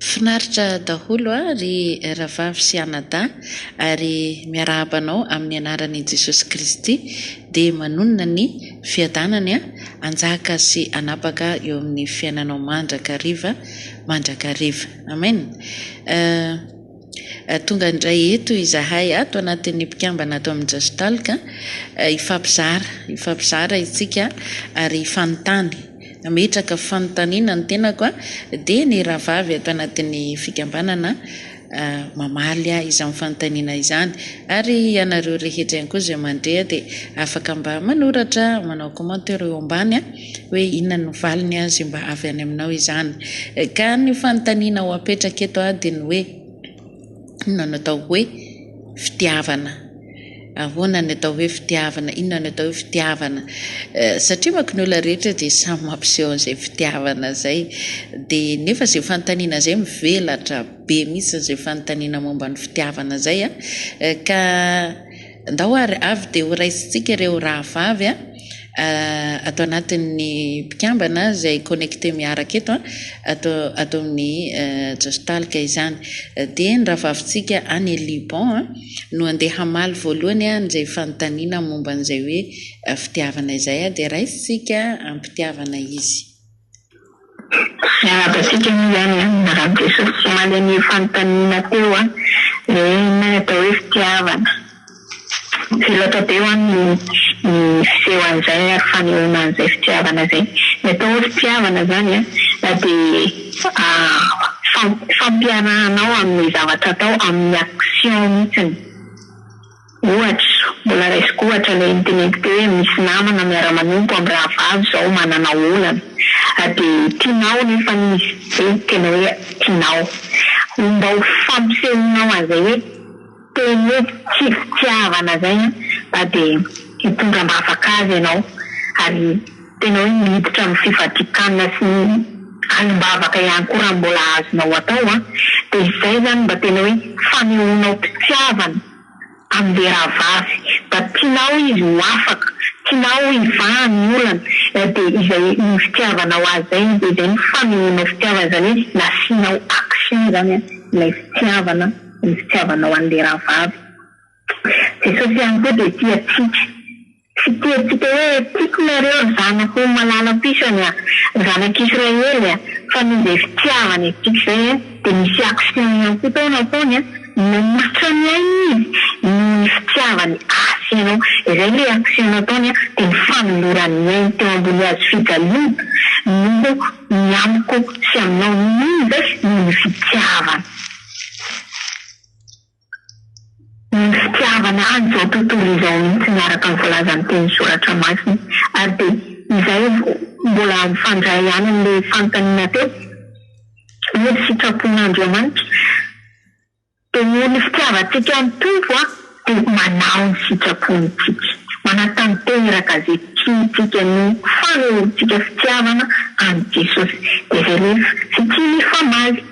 Finaritra daholo a ry Rahavavy sy Anadahy ary miarahaba anao amin'ny anaran' i Jesosy Kristy dia manonona ny Fiadanany a anjaka sy anapaka eo amin'ny fiainanao mandrakariva mandrakariva Amen a. Tonga indray eto izahay ato anatin'ny mpikambana ato amin'ny Just Talk hifampizara, hifampizara isika ary hifanontany. Nametraka fanontaniana ny tenako dia ny rahavavy ato anatin'ny fikambanana mamaly izany fanontaniana izany ary ianareo rehetra ihany koa izay mandre dia afaka mba manoratra, manao commentaire eo ambany. hoe inona no valiny azy mba avy any aminao izany. Ka ny fanontaniana ho apetraka eto dia ny hoe inona no atao hoe fitiavana? Ahoana ny atao hoe fitiavana? Inona no atao hoe fitiavana? Satria manko ny olona rehetra dia samy mampiseho an'izay fitiavana izay. Dia nefa izay fanontaniana izay mivelatra be mihitsy izay fanontaniana momba ny fitiavana izay. Ka. Ndao ary avy dia ho raisintsika ireo rahavavy ato anatin'ny mpikambana izay connecter miaraka eto ato ato amin'ny Jostalk izany. Dia ny rahavavintsika any Liban no andeha hamaly voalohany an'izay fanontaniana momba an'izay hoe fitiavana izay dia raisintsika am-pitiavana izy. Miarahaba antsika aloha izany an, miarahaba Jesosy sy omaly anio fanontaniana teo hoe inona no atao hoe fitiavana. Tsy loatra be ho'a ny fiseho an'izay ary fanehoana an'izay fitiavana izay. Ny atao hoe fitiavana izany an dia fampiarahanao amin'ny zavatra atao, amin'ny action mihitsiny. Ohatra, mbola raisiko ohatra ilay niteneniko teo hoe misy namana miara-manompo amin'ny rahavavy izao manana olana, dia tianao anefa izy, hoe tena hoe tianao. Mba ho fampisehoanao an'izay hoe teny hoe tsy fitiavana izay an, dia hitondra am-bavaka azy ianao, ary tena hoe miditra amin'ny fifadian-kanina sy ny alim-bavaka ihany koa raha mbola azonao atao an, dia izay izany mba tena hoe fanehoanao mpitiavana. Amim-behirahavavy, mba tianao izy ho afaka, tianao hivahany ny olana, dia izay iny fitiavanao azy izay no dia izay no fanehoanao fitiavana, izany hoe nasianao action izany ilay fitiavana, ny fitiavanao an'ilay rahavavy. Jesosy ihany koa dia tia antsika. Tsy tiantsika hoe tiako nareo ry zanako ho malalam-pisany a! Zanak'i Israely a! Fa noho izay fitiavany antsika izay a, dia nisy action ihany koa tao nataony a, nanolotra ny ainy izy noho ny fitiavany asy ianao, izay ilay action nataony a, dia ny fanolorany ny ainy teo ambony hazo fijaliana noho ny amiko sy aminao, noho inona izay? noho ny fitiavany. Ny fitiavana an'izao tontolo izao mihitsy no araka ny voalazan'ny teny soratra masina. Ary dia izay aloha mbola mifandray ihany amin'ilay fanontaniana teo, hoe ny sitrapon'Andriamanitra. Dia noho ny fitiavantsika ny Tompo an, dia manao ny sitrapony isika. Manatanteraka izay tiantsika no fanehoantsika fitiavana an'i Jesosy. Dia izay rehefa tsy tia mifamaly.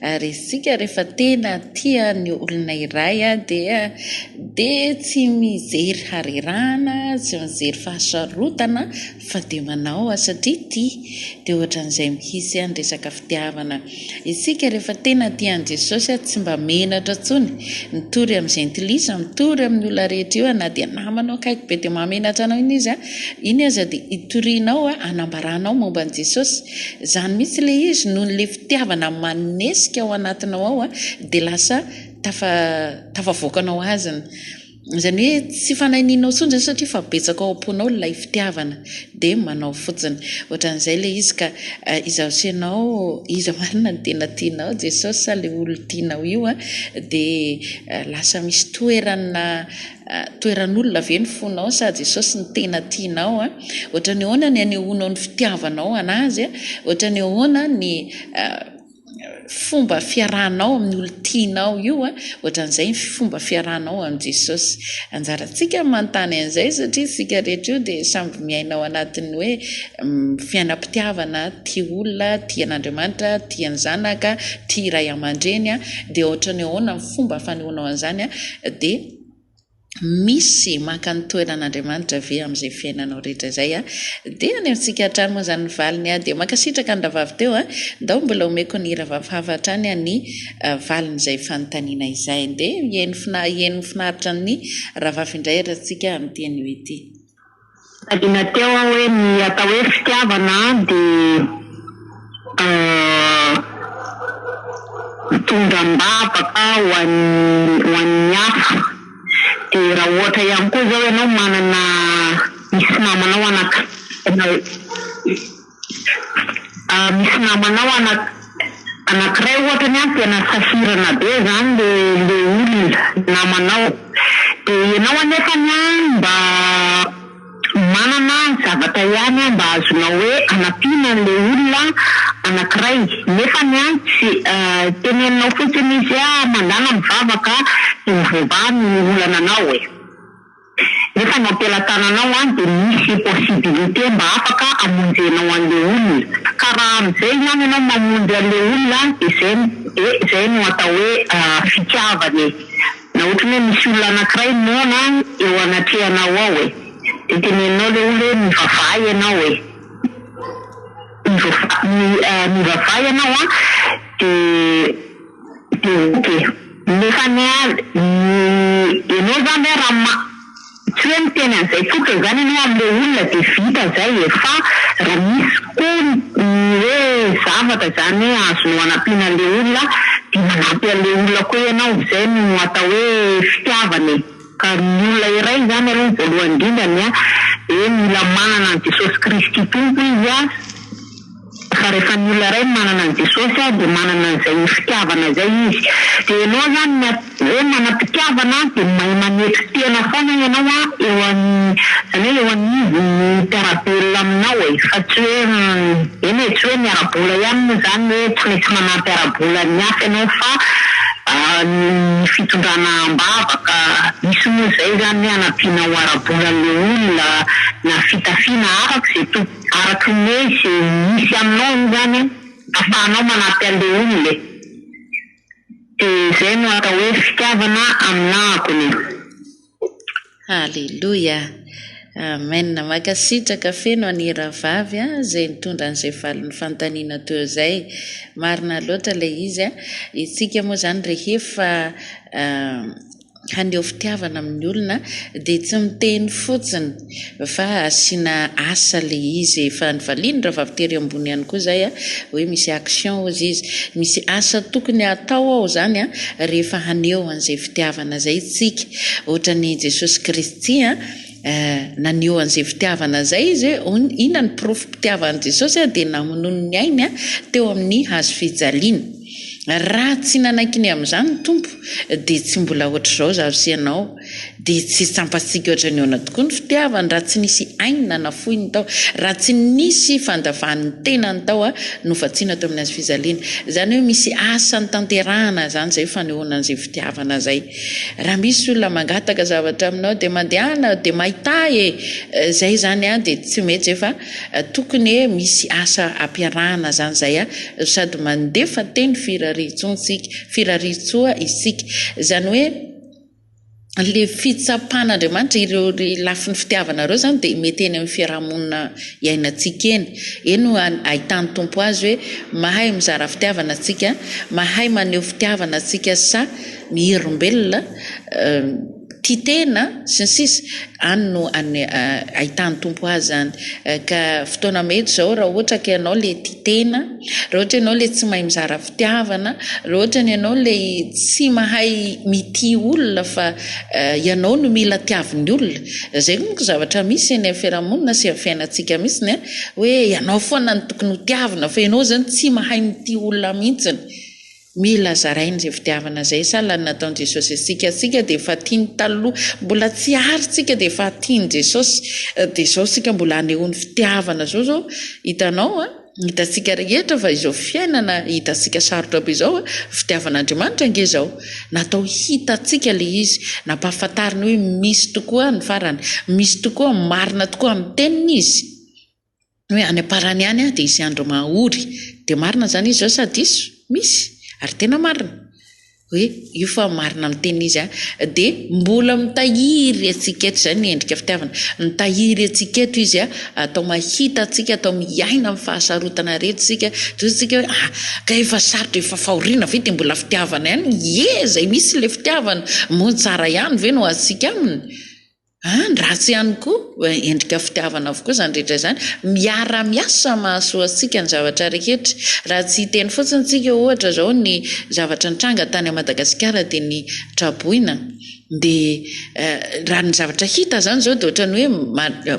Ary isika rehefa tena tia ny olona iray dia dia tsy mijery harerahana, tsy mijery fahasarotana fa dia manao azy satria tia. Dia ohatran'izay mihitsy ny resaka fitiavana. Isika rehefa tena tia an'i Jesosy tsy mba menatra intsony mitory amin'ny jentilisa, mitory amin'ny olona rehetra io na dia namanao akaiky be dia mahamenatra anao iny izy, iny aza dia itorianao, anambaranao momba an'i Jesosy. Izany mihitsy ilay izy noho ilay fitiavana manesika ao anatinao ao a dia lasa tafa tafavoakanao azy ny izany hoe tsy fanahinianao intsony izany satria efa betsaka ao am-ponao ilay fitiavana dia manao fotsiny ohatran'izay ilay izy ka izaho sy ianao iza marina no tena tianao Jesosy sa ilay olona tianao io a dia lasa misy toerana Toeran'olona ve ny fonao sa Jesosy no tena tianao? Ohatran'ny ahoana ny anehoanao ny fitiavanao an'Azy? Ohatran'ny ahoana ny fomba fiarahanao amin'ny olon-tianao io? Ohatran'izay ny fomba fiarahanao amin'i Jesosy. Anjarantsika ny manontany an'izay satria isika rehetra io dia samy miaina ao anatin'ny hoe fiainam-pitiavana, tia olona, tia an'Andriamanitra, tia ny zanaka, tia ray aman-dreny. Dia ohatran'ny ahoana ny fomba fanehoanao an'izany? Dia misy maka ny toeran'Andriamanitra ve amin'izay fiainanao rehetra izay a? Dia any amintsika hatrany moa izany ny valiny a! Dia mankasitraka ny rahavavy teo a! Ndao mbola omeko ny rahavavy hafa hatrany a ny valin'izay fanontaniana izay. Dia hihaino fina hihaino ny finaritra ny rahavavy indray ary tsika amin'ity anio ity. Tadina teo aho hoe ny atao hoe fitiavana dia mitondra am-bavaka ho an'ny ho an'ny hafa. Dia raha ohatra ihany koa izao ianao manana misy namanao anakiray Misy namanao anakiray ohatra ny an tena sahirana be zany le le olona namanao de ianao anefany an mba manana zavatra ihany an mba azonao hoe anampiana anle olona anakiray nefany an tsy teneninao fotsiny izy an mandàna mivavaka de ho voavaha ny olana anao e. Nefa ny ampelatanana ao an dia misy possibilité mba afaka hamonjenao anle olona ka raha amzay ihany enao mamonjy anle olona an dia zay de zay no atao hoe fitiavana e na otrany hoe misy olona anakiray noana eo anatrehanao ao e de teneninao le olona hoe mivavaha enao e mivavaha enao an de Député, nefa ny ahy ny enao zany hoe raha ma tsy hoe miteny an'izay fotsiny zany enao amle olona de vita zay e fa raha misy koa ny hoe zavatra zany hoe azonao anampiana anle olona de manampy anle olona koa enao zay no atao hoe fitiavana e ka ny olona iray zany aloha ny voalohany indrindrany a de mila manana an'i Jesosy Kristy Tompo izy a Fa rehefa ny olona iray no manana an'i Jesosy dia manana an'izay fitiavana izay izy. Dia ianao izany ny hoe manam-pitiavana dia mahay manetry tena foana ianao eo an, izany hoe eo anivon'ny mpiara-belona aminao e, fa tsy hoe eny e, tsy hoe ny ara-bola ihany moa izany hoe tsy maintsy manampy ara-bola ny hafa ianao fa ny fitondrana am-bavaka, misy moa izay izany hoe anampianao ara-bola an'ilay olona na fitafiana araka izay tokony. Araka ny hoe ze misy aminao io zany afahanao manampy anle olona e! De zay no atao hoe fitiavana aminahako ny e! Haleloia! Amen! Mankasitraka feno an i Rahavavy a zay nitondra an'izay valin'ny fanontaniana teo izay. Marina loatra ilay izy a! Isika moa izany rehefa haneho fitiavana amin'ny olona dia tsy miteny fotsiny fa asiana asa ilay izy efa nivalian'ny rahavavy tery ambony ihany koa izay hoe misy action hozy izy misy asa tokony hatao ao izany an rehefa haneho an'izay fitiavana izay isika ohatran'ny jesosy kristy an Eh, naneho an'izay fitiavana izay izy hoe, oh, inona ny porofom-pitiavan'i Jesosy ah, dia namonoany ny ainy ah, teo amin'ny hazo fijaliana. Raha tsy nanaiky ny amin'izany ny Tompo, dia tsy mbola hoatr'izao zaho sy ianao. Dia tsy tsampantsika hoatran'ny ahoana tokoa ny fitiavany raha tsy nisy ainy nanafoiny tao, raha tsy nisy fandavan'ny tenany tao ah, novatsiana teo amin'ny hazo fijaliana. Izany hoe misy asa notanterahana izany izay fanehoana an'izay fitiavana izay. Raha misy olona mangataka zavatra aminao dia mandehana dia mahità e! Zay izany an dia tsy metsy efa tokony e misy asa ampiarahana zany zay an sady mandefa teny firariantsontsika firariantsoa isika zany hoe le fitsapan'Andriamanitra ireo ry lafiny fitiavana reo zany dia mety eny amin'ny fiarahamonina iainantsika eny eny no ahitan'ny Tompo azy hoe mahay mizara fitiavana tsika mahay maneho fitiavana tsika sa miherimbelona, tia tena sy ny sisa, any no ahitan'ny Tompo azy any. Ka fotoana mety izao raha ohatra ka ianao ilay tia tena, raha ohatra ianao ilay tsy mahay mizara fitiavana, raha ohatra ny ianao ilay tsy mahay mitia olona fa ianao no mila tiavin'ny olona, izay monko zavatra misy eny amin'ny fiarahamonina sy amin'ny fiainantsika mihitsiny a, hoe ianao foana no tokony ho tiavina fa ianao izany tsy mahay mitia olona mihitsiny. Mila zaraina izay fitiavana izay sa ilay nataon'i Jesosy antsika? Isika dia efa tia ny taloha, mbola tsy ary isika dia efa tia an'i Jesosy, dia izao isika mbola hanehoany fitiavana izao izao hitanao an, hitantsika rehetra fa izao fiainana hitantsika sarotra be izao an, fitiavan'Andriamanitra ange izao natao hitantsika ilay izy, nampahafantariny hoe misy tokoa ny farany, misy tokoa, marina tokoa amin'ny teniny izy. Hoe any am-parany any dia hisy andro mahory dia marina izany izy zao sa diso? Misy ary tena marina hoe io fa marina amin'ny teniny izy a! Dia mbola mitahiry antsika eto izay ny endrika fitiavana, mitahiry antsika eto izy a! Atao mahita antsika, atao miaina amin'ny fahasarotana rehetra isika, toy isika hoe ah! ka efa sarotra, efa fahoriana ve dia mbola fitiavana ihany? Ie! izay misy ilay fitiavana, moa ny tsara ihany ve no azontsika aminy? Any ratsy ihany koa, endrika fitiavana avokoa izany rehetra izany. Miara miasa mahasoa antsika ny zavatra rehetra. Raha tsy hiteny fotsiny tsika ohatra zao ny zavatra nitranga tany a Madagasikara dia ny traboina dia raha ny zavatra hita zany zao dia ohatran'ny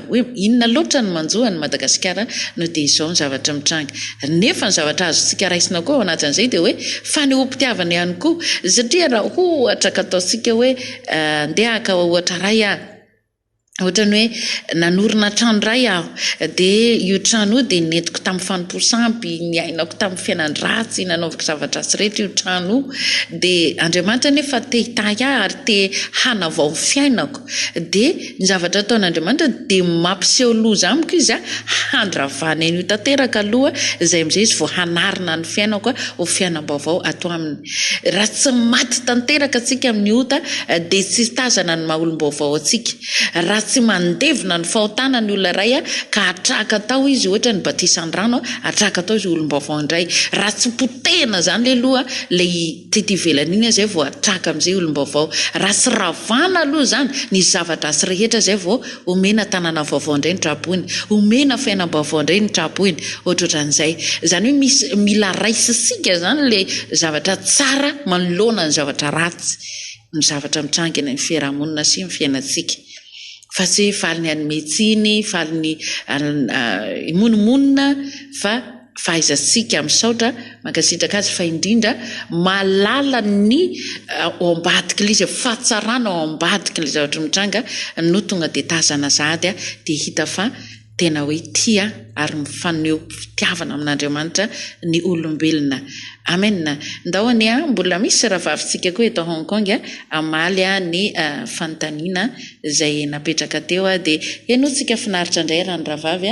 hoe inona loatra no manjo an'i Madagasikara no dia izao ny zavatra mitranga. Nefa ny zavatra azontsika raisina koa ao anatin'izay dia hoe fanehoam-pitiavana ihany koa satria raha ohatra ka ataontsika hoe Andeha haka ohatra iray aho. Ohatran'ny hoe nanorina trano iray aho, dia io trano io dia nentiko tamin'ny fanompoa sampy, niainako tamin'ny fiainan-dratsy, nanaovako zava-dratsy rehetra io trano io. Dia Andriamanitra anefa te-hitahy ahy ary te-hanavao ny fiainako. Dia. Ny zavatra ataon'Andriamanitra dia mampiseho loza amiko izy a, handravana an'io tanteraka aloha izay amin'izay izy vao hanarina ny fiainako ho fiainam-baovao ato aminy. Raha tsy maty tanteraka antsika amin'ny ota dia tsy hitazana ny maha olom-baovao antsika. Raha tsy mandevina ny fahotana ny olona iray ka hatraka tao izy ohatra ny batisan-drano, hatraka tao izy ho olom-baovao indray. Raha tsy potehina izany aloha ilay Tety ivelany iny izay vao atraka amin'izay olom-baovao. Raha tsy ravana aloha izany ny zava-dratsy rehetra izay vao omena tanàna vaovao indray ny tra-boina. Omena fiainam-baovao indray ny tra-boina. Ohatrohatran'izay. Izany hoe misy mila raisintsika izany ilay zavatra tsara manoloana ny zavatra ratsy, ny zavatra mitranga eny amin'ny fiarahamonina sy ny fiainantsika. Fa tsy hoe faly ny hanome tsiny, faly ny himonomonona fa. fahaizantsika misaotra mankasitraka azy fa indrindra mahalala ny ao ambadiky ilay izy fahatsarana ao ambadiky ilay zavatra mitranga no tonga dia tazana sahady dia hita fa tena hoe tia ary mifaneho fitiavana amin'Andriamanitra ny olombelona amen ndao anie an mbola misy ravavintsika koa eto Hong Kong hamaly ny fanontaniana izay napetraka teo dia henointsika finaritra indray raha ny rahavavy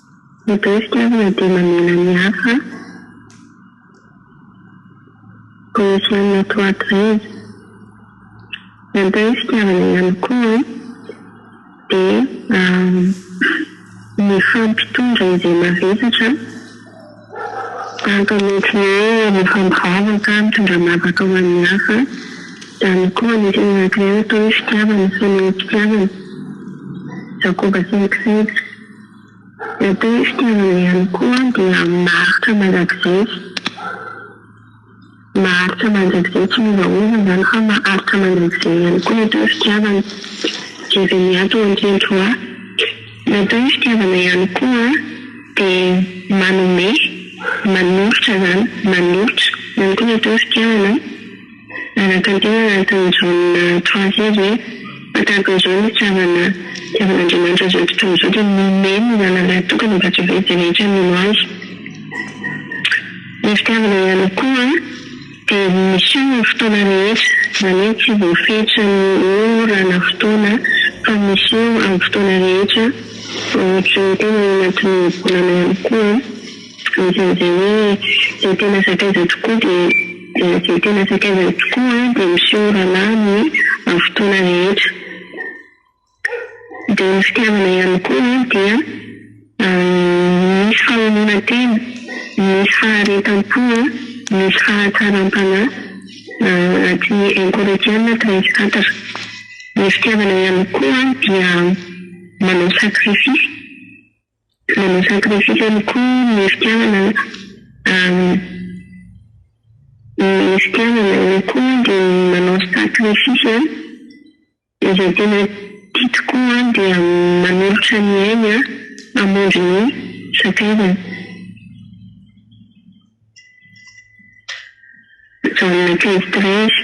Matetika aza na dia mamela ny hafa ho hisy amina tohatra iza. Mitahy ny fitiavana ihany koa dia mifampitondra izay mavesatra tahaka ny ohatry ny hoe rehefa mivavaka mitondra mavaka ho an'ny hafa. Izany koa anisan'ny anankiray atao hoe fitiavana, fanehoam-pitiavana, Jakoba siniky seza. Matetika izy ireny koa dia maharitra mandrakizay. Maharitra mandrakizay tsy miovaova izany fa maharitra mandrakizay ihany koa mety hoe fitiavana. Jeremiah tao an-kendroa. Mety hoe fitiavana ihany koa dia manome, manolotra izany, manolotra. Izany koa mety hoe fitiavana. Nanantena Anton Jaona Troisier hoe, Fa tahaka izao ny fitiavana, fitiavan'Andriamanitra izao tontolo izao dia nomeny ny Anarany tokana mba tsy ho very dia rehetra mino Azy. Ny fitiavana ihany koa dia miseho amin'ny fotoana rehetra, izany hoe tsy voafetra ny ora na fotoana fa miseho amin'ny fotoana rehetra, ohatry ny tena ao anatin'ny volana ihany koa. Anisan'izay hoe izay tena sakaiza tokoa dia izay tena sakaiza tokoa dia miseho rahalahy amin'ny fotoana rehetra. Dia ny fitiavana ihany koa dia misy fahaononantena, misy faharetam-po, misy fahatsaram-panahy ao anatin'ny un Corinthiens treize quatre. Ny fitiavana ihany koa dia manao sacrifice. Manao sacrifice ihany koa ny fitiavana an, ny fitiavana ihany koa dia manao sacrifice an, izay tena tia tokoa an dia manolotra ny ainy an hamonjy ny sakaizany, zone quinze treize.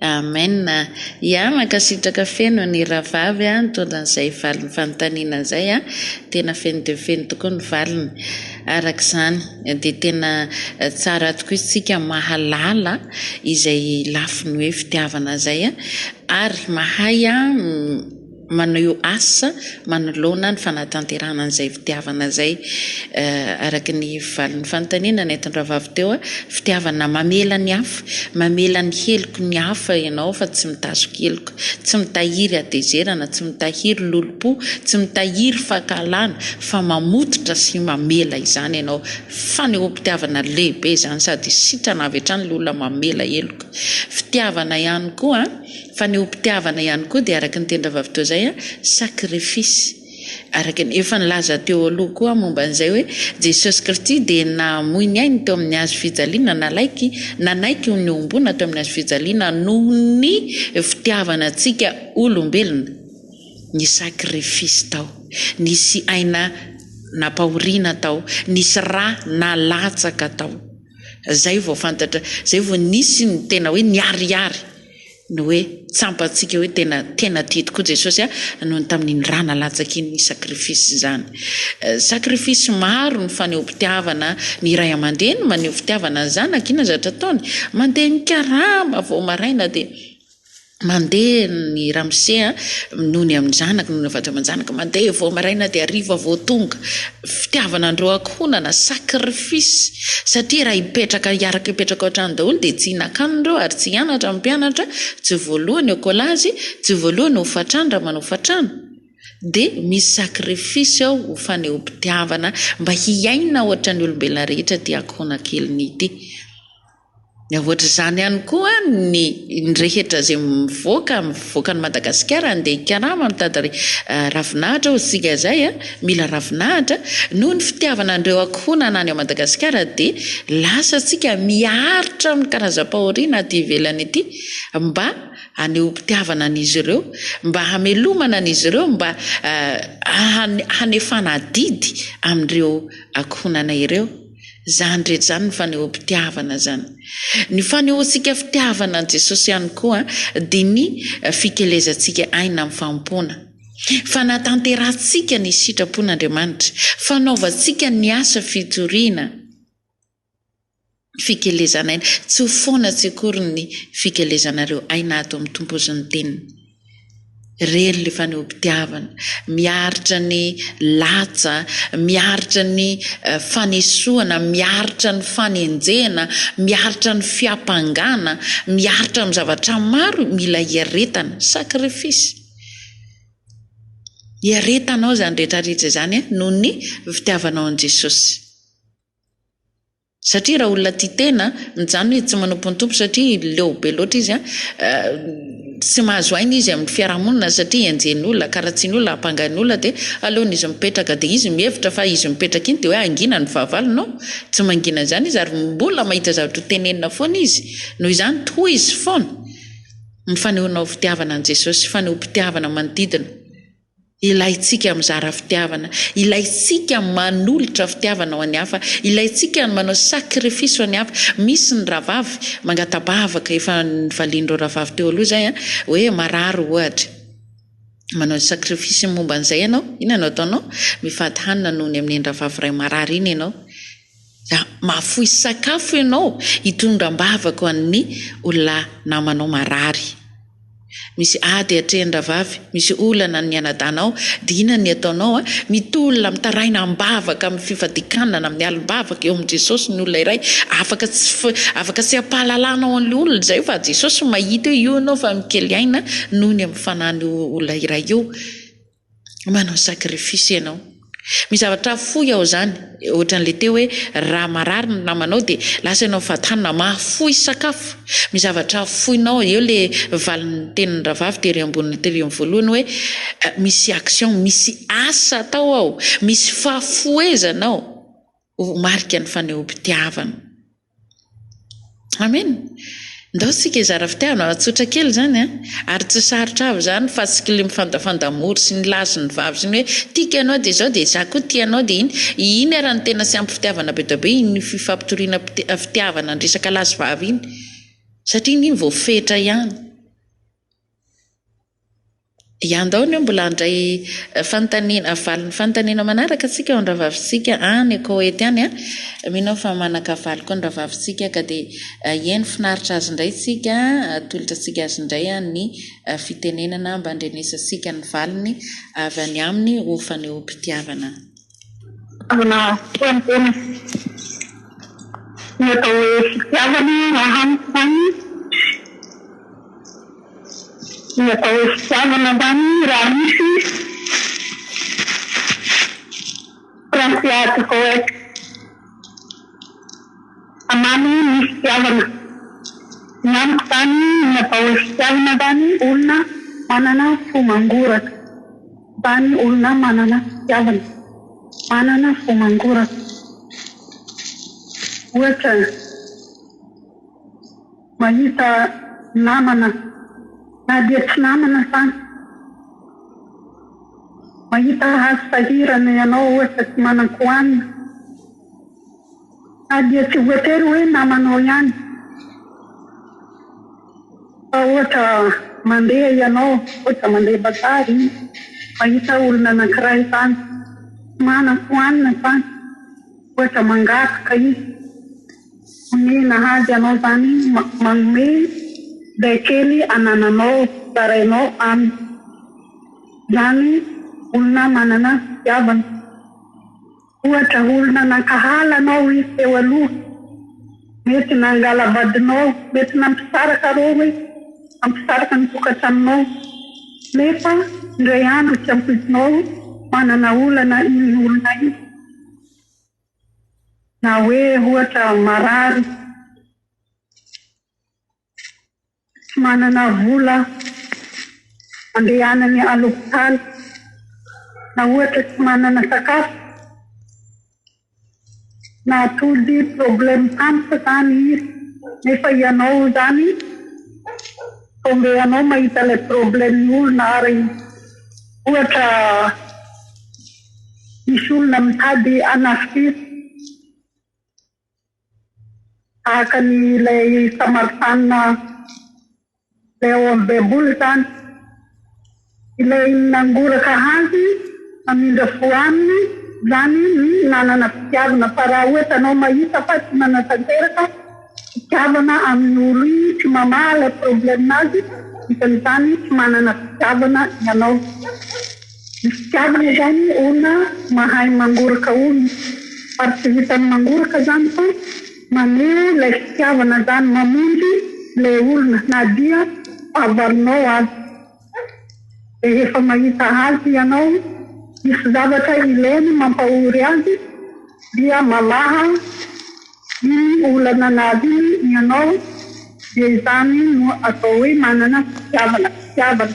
Amen a! Ya mankasitraka feno an'i rahavavy a nitondra an'izay valin'ny fanontaniana izay a, tena feno dia feno tokoa ny valiny, araka izany dia tena tsara tokoa isika mahalala izay lafiny hoe fitiavana izay a ary mahay a. manao asa manoloana ny fanatanterahana an'izay fitiavana izay, araka ny valin'ny fanontaniana nentin-dRavavy teo, fitiavana mamela ny hafa, mamela ny heloky ny hafa ianao fa tsy mitazoky heloka, tsy mitahiry hatezerana, tsy mitahiry lolompo, tsy mitahiry fankahalana fa mamototra sy mamela izany ianao, fanehoam-pitiavana lehibe izany sady sitrana avy hatrany ilay olona mamela heloka, fitiavana ihany koa. Fa ny hompitiavana ihany koa dia araka ny teny rahavavy toa izay, sacrifice. Araka ny efa nilaza teo aloha koa momba an'izay hoe, Jesosy Kristy dia namoy ny ainy teo amin'ny hazo fijaliana, nalaiky, nanaiky ho nihombona teo amin'ny hazo fijaliana noho ny fitiavana antsika olombelona. Nisy sacrifice tao. Nisy aina nampahoriana tao. Nisy ra nalatsaka tao. Izay vao fantatra, izay vao nisy ny tena hoe niharihary. ny hoe tsampantsika hoe tena tena tia tokoa Jesosy ahy noho ny tamin'iny rà nalatsaka iny ny sacrifice izany sacrifice maro ny fanehoam-pitiavana ny iray aman-dreny maneho fitiavana ny zanaka ina zatra ataony mandeha ny karama vao maraina dia mandeha ny ramose a noho ny amin'ny zanaka noho ny avatra aman-janaka mandeha vao maraina dia hariva vao tonga fitiavana andreo ankohonana, sacrifice, satria raha hipetraka hiaraka hipetraka ao an-trano daholo dia tsy hihinan-kanina ireo ary tsy hianatra ny mpianatra, tsy voalohany eo kolazy, tsy voalohany eo hofantrano raha manao hofantrano, dia misy sacrifice ao ho fanehoam-pitiavana mba hiaina ohatran'ny olombelona rehetra ity ankohonankeliny ity. Ny ankoatr'izany ihany koa, ny rehetra izay mivoaka, mivoaka an'i Madagasikara handeha hikarama, mitady ravinahitra hoy isika izay, mila ravinahitra, noho ny fitiavana an'ireo ankohonana any Madagasikara dia lasa isika miaritra amin'ny karazam-pahoriana aty ivelany ity mba hanehoam-pitiavana an'izy ireo, mba hamelomana an'izy ireo, mba hanefana adidy amin'ireo ankohonana ireo. Zany rehetra zany ny fanehoam-pitiavana zany. Ny fanehoantsika fitiavana an'i Jesosy ihany koa dia ny fikelezantsika aina amin'ny fanompoana. Fanatanterahantsika ny sitrapon'Andriamanitra, fanaovantsika ny asa fitoriana, fikelezan'aina. Tsy ho foana tsy akory ny fikelezanareo aina ato amin'ny Tompo sy ny Teniny. Reny le fanehoam-pitiavana, miaritra ny latsa, miaritra ny fanesoana, miaritra ny fanenjehana, miaritra ny fiampangana, miaritra amin'ny zavatra maro io, mila iaretana, sacrifice, iaretanao izany rehetra rehetra izany noho ny fitiavanao an'i Jesosy. Satria raha olona tia tena, mijanona izy tsy manompo ny Tompo satria leo be loatra izy an, tsy mahazo aina izy amin'ny fiarahamonina satria enjehin'olona, karatsian'olona, ampangain'olona dia aleon'izy mipetraka dia izy mihevitra fa izy mipetraka iny dia hoe hangina ny fahavalony non, tsy mangina an'izany izy ary mbola mahita zavatra ho tenenina foana izy, noho izany tohizo foana ny fanehoanao fitiavana an'i Jesosy, fanehoam-pitiavana manodidina. Ilaintsika ny mizara fitiavana, ilaintsika ny manolotra fitiavana ho an'ny hafa, ilaintsika ny manao sacrifice ho an'ny hafa. Misy ny rahavavy mangatabavaka, efa nivalian'ireo rahavavy teo aloha izay an, hoe marary ohatra, manao sacrifice momba an'izay ianao, inona no ataonao? Mifady hanina noho ny amin'iny rahavavy iray marary iny ianao, Za mahafoy sakafo ianao hitondra ambavako an'ny olona namanao marary. Misy ady atrehin-dravavy, misy olana ny anadahinao, dina ny ataonao, mitolona mitaraina ambavaka amin'ny fifadikanana, mialy mbavaka eo amin'i Jesosy ny olona iray, afaka tsy afaka tsy hampahalalanao an'ilay olona izay fa Jesosy mahita eo ianao fa mikely aina noho ny amin'ny fanan'io olona iray io, manao sacrifice ianao misy zavatra fohy ao zany ohatran'le teo hoe raha marary ny namanao de lasa ianao mivaha tany na mahafoy sakafo misy zavatra foinao eo le valin'ny tenin'ny ravavy tery ambon'ny telium voalohany hoe eh, misy action misy asa atao ao misy fahafohezana ao ho marika ny fanehoam-pitiavana Amen! Ndao tsika hizara fitiavana, tsotra kely zany an! ary tsy sarotra avy zany fa tsy kle mifandafanda mody sy ny lahy sy ny vavy sy ny hoe tiako ianao dia izao dia za koa tia anao dia iny, iny ara no tena tsy ampy fitiavana be dia be iny fifampitoriana fitiavana ny resaka lahy sy vavy iny satria iny voafetra ihany. Dia andao anie mbola handray fanontaniana, valin'ny fanontaniana manaraka tsika ao an-dRavavintsika any Koety any a! Mino aho fa manan-kavaly koa ny Ravavintsika ka dia hihaino finaritra azy indray tsika, atolotra antsika azy indray ny fitenenana mba handrenesantsika ny valiny avy any aminy ho fanehoam-pitiavana. Feno tena. Ny atao hoe fitiavana raha amiko izany, ny atao hoe fitiavana izany raha misy princiat coex, hamamy ny fitiavana. Ny amiko izany ny atao hoe fitiavana izany olona manana fo mangoraka. Tany olona manana fitiavana, manana fo mangoraka. Ohatra, mahita namana na dia tsy namana azany, mahita hazo sahirana ianao ohatra tsy manan-kohanina. Ary dia tsy voatery hoe namanao ihany fa ohatra mandeha ianao, ohatra mandeha bazary izy, mahita olona anankiray tany tsy manan-ko hanina tany, ohatra mangataka izy, omena azy ianao izany, manome izay kely anananao, zarainao aminy, izany olona manana fitiavana. Ohatra olona nankahala anao izy teo aloha, mety nangalavadinao, mety nampisaraka arô hoe nampisaraka ny tokantranonao, nefa indray andro tsy ampoizinao manana olana iny olona iny, na hoe ohatra marary. tsy manana vola andehanany à l'hôpital na ohatra tsy manana sakafo na atody problème tampoka zany izy nefa ianao zany tomber anao mahita ilay problème ny olona ary ohatra misy olona mitady hanafika izy tahaka ny ilay Samaritanina ilay ao amin'ny Baiboly izany. Ilay nangoraka azy hamindra fo aminy izany ny nanana fitiavana, fa raha ohatra anao mahita fa tsy manatanteraka fitiavana amin'ny olo iny, tsy mamaha ilay problème-nazy, isan'izany tsy manana fitiavana ianao. Ny fitiavana zany ona mahay mangoraka ona ary tsy vitan'ny mangoraka zany fa maneho ilay fitiavana zany mamonjy ilay olona na dia fahavalonao aza rehefa mahita azy ianao misy zavatra ilainy mampahory azy dia mamaha iny olana nazy iny ianao dia izany no atao hoe manana fitiavana fitiavana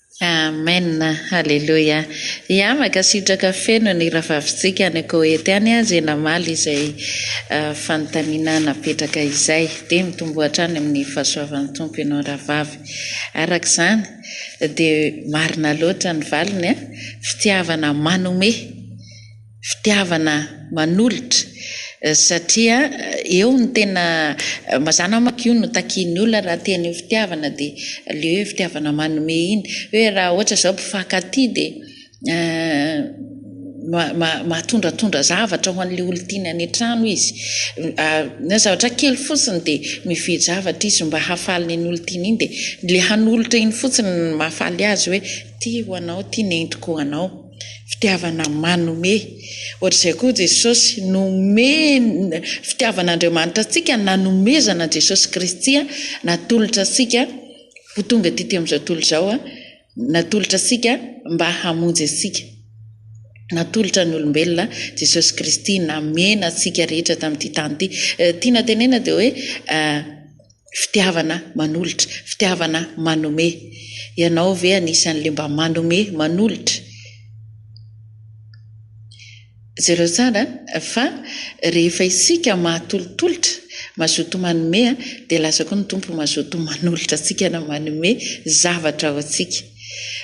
Amen Haleloia Yama kasitraka feno ny Rahavavitsika any Koety any ze namaly izay fanontaniana napetraka izay de mitomboa hatrany amin'ny fahasoavan'ny Tompo ianao Rahavavy araka izany de marina loatra ny valiny a fitiavana manome fitiavana manolotra satria eo no tena mazana manko io no takian'ny olona raha teny ho fitiavana dia le hoe fitiavana manome iny hoe raha ohatra zao mpifankatia dia mahatondratondra zavatra ho an'le olona tiany any an-trano izy na zavatra kely fotsiny dia mividy zavatra izy mba hahafaly iny olona tiany iny dia le hanolotra iny fotsiny no mahafaly azy hoe ty ho anao ty nentiko ho anao. Fitiavana manome. Ohatr'izay koa Jesosy, nomeny, fitiavan'Andriamanitra antsika nanomezana an'i Jesosy Kristy natolotra antsika ho tonga aty tamin'izao tontolo izao, natolotra antsika mba hamonjy antsika. Natolotra ny olombelona Jesosy Kristy namena antsika rehetra tamin'ity tany ity. Tiana tenena dia hoe fitiavana manolotra, fitiavana manome. Ianao ve anisan'le mba manome, manolotra? Jereo tsara fa rehefa isika mahatolotolotra, mazoto manome dia lasa koa ny Tompo mazoto manolotra antsika na manome zavatra ho antsika.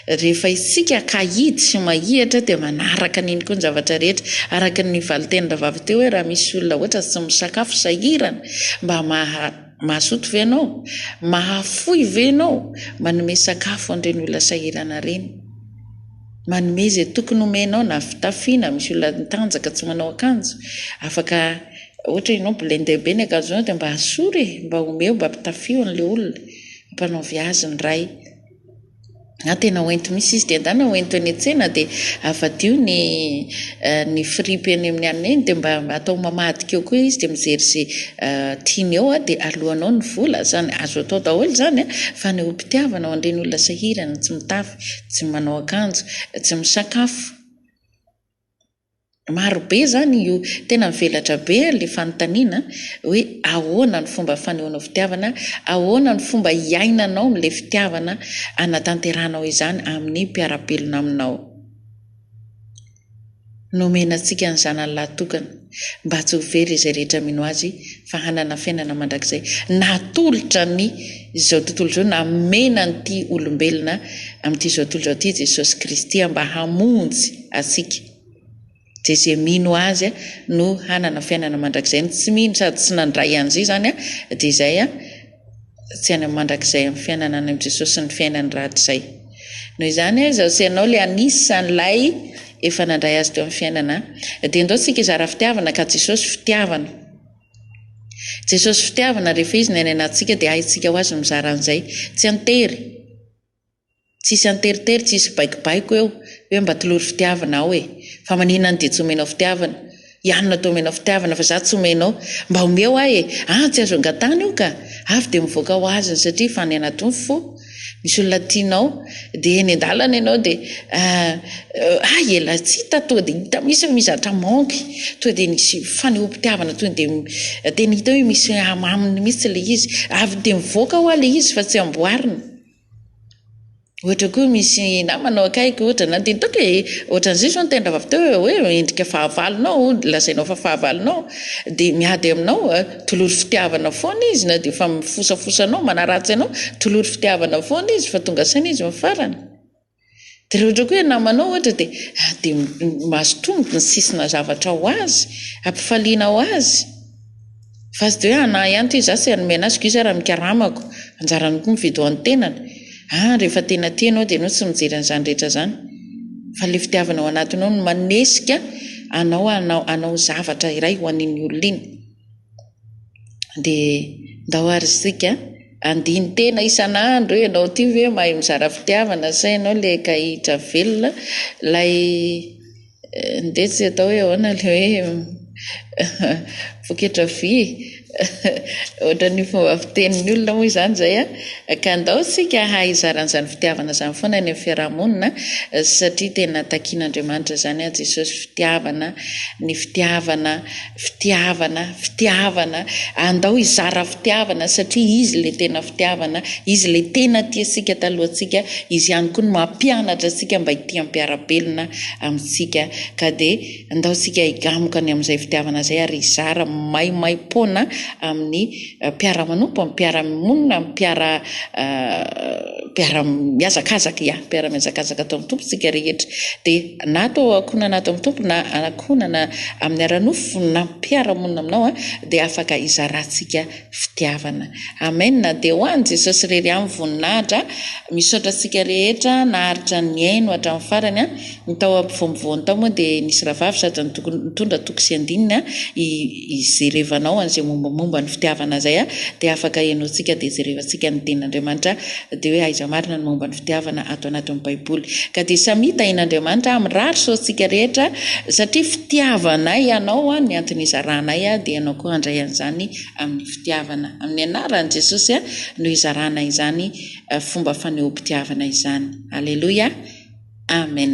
Rehefa isika kahidy sy mahihatra dia manaraka an'iny koa ny zavatra rehetra. Araka ny valin-tenin'ny rahavavy teo hoe raha misy olona ohatra tsy misakafo, sahirana, mba mazoto ve ianao? Mahafoy ve ianao? Manome sakafo an'ireny olona sahirana ireny. Manome izay tokony homenao na fitafy na misy olona mitanjaka tsy manao akanjo afaka ohatra ianao blender be ny akanjonao dia mba asoro e! Mba omeo mba pitafio an'ilay olona. Ampanaovy azy ny Ray. na tena ho ento misy izy dia endana ho ento eny an-tsena dia avadiho ny ny fripy eny amin'ny alina eny dia mba atao mamadika eo koa izy dia mijery izay tiany eo dia aloanao ny vola, izany azo atao daholo izany an, fanehoam-pitiavana ho an'ireny olona sahirana tsy mitafy, tsy manao akanjo, tsy misakafo. Maro be izany io. Tena mivelatra be ilay fanontaniana hoe ahoana ny fomba fanehoanao fitiavana, ahoana ny fomba hiainanao amin'ilay fitiavana anatanterahanao izany amin'ny mpiara-belona aminao. Nomena antsika ny Zanany lahatokana mba tsy ho very izay rehetra mino Azy fa hanana fiainana mandrakizay. Natolotra ny izao tontolo izao, namena an'ity olombelona amin'ity izao tontolo izao ity i Jesosy Kristy mba hamonjy. antsika. Dia izay mino Azy no hanana fiainana mandrakizay. Ny tsy mino sady tsy nandray an'izay izany dia izay tsy any amin'ny mandrakizay amin'ny fiainana any amin'i Jesosy sy ny fiainany rahatrizay. Noho izany, izaho sy ianao ilay anisan'ilay efa nandray Azy teo amin'ny fiainana. Dia indao isika hizara fitiavana ka Jesosy fitiavana. Jesosy fitiavana rehefa Izy ny any anatintsika dia haintsika ho Azy ny mizara an'izay. Tsy an-tery. Tsisy anteritery tsisy baikobaiko eo hoe mba tolory fitiavana aho e! Fa manina any dia tsy omenao fitiavana? Ianona toa omenao fitiavana fa za tsy omenao? Mba omeo ahy e! An! tsy azo angatahana io ka! Avy dia mivoaka ho azony satria efa any anaty ny fo! Misy olona tianao dia eny an-dalana ianao dia ah! Hay elah! tsy hita toa dia hita mihitsy fa misy zavatra manque! Toa dia nisy fanehoam-pitiavana toa dia tena hita hoe misy hamaminy mihitsy ilay izy! Avy dia mivoaka hoa ilay izy fa tsy amboarina! Ohatra koa misy namana ao akaiky ohatra na dia nitaky hoe ohatran'izay izao ny tendravav teo hoe endrika fahavalonao hono lazainao fa fahavalonao dia miady aminao tolory fitiavana foana izy na dia efa mifosafosa anao manaratsy anao tolory fitiavana foana izy fa tonga saina izy amin'ny farany Dia raha ohatra koa hoe namanao ohatra dia dia mahazo tombony ny sisina zavatra ho azy, ampifaliana ho azy, fa tsy dia hoe anah ihany ity, izaho tsy hanome anah, zokio izaho raha mikaramako, anjaranao koa mividy ho an'ny tenany, ah rehefa tena tia ianao dia ianao tsy mijery an'izany rehetra izany, fa ilay fitiavana ao anatinao no manesika anao hanao hanao zavatra iray ho an'iny olona iny. dia ndao ary isika andinin-tena isan'andro hoe ianao ity ve mahay mizara fitiavana sa ianao ilay kahihitra velona ilay ndeha tsy atao hoe ahoana ilay hoe poketra vy ohatran'ny fomba fitenin'ny olona moa izany izay a, ka ndao isika hahay hizara an'izany fitiavana izany foana any amin'ny fiarahamonina satria tena takian'Andriamanitra izany an Jesosy fitiavana ny fitiavana Fitiavana, fitiavana, andao hizara fitiavana satria Izy ilay tena fitiavana, Izy ilay tena tia antsika talohantsika, Izy ihany koa no mampianatra antsika mba hitia mpiara-belona amintsika. Ka dia andao isika higamoka ny amin'izay fitiavana izay ary hizara maimaim-poana amin'ny. mpiara-manompo amin'ny mpiara-monina, amin'ny mpiara mpiara-mihazakazaka, ia, mpiara-mihazakazaka ato amin'ny Tompo isika rehetra. Dia na ato ankohonana ato amin'ny Tompo na ankohonana amin'ny ara-nofo na mpiara-monina aminao a, dia afaka hizarantsika fitiavana. Amen! Dia ho an'i Jesosy irery ihany voninahitra. Misaotra antsika rehetra naharitra nihaino hatramin'ny farany a. Ny tao ampovoampovoany tao moa dia nisy rahavavy sady nitondra toko sy andininy a. ijerevanao an'izay mombamomba ny fitiavana izay a dia afaka henoantsika dia jerevantsika ny tenin'Andriamanitra dia hoe aiza marina ny momba ny fitiavana ato anatin'ny baiboly ka dia samy hita in Andriamanitra a mirary soa antsika rehetra satria fitiavanay ianao a ny antony izaranay a dia ianao koa handray an'izany amin'ny fitiavana amin'ny anaran'i Jesosy a no izarana izany fomba fanehoam-pitiavana izany aleloia amen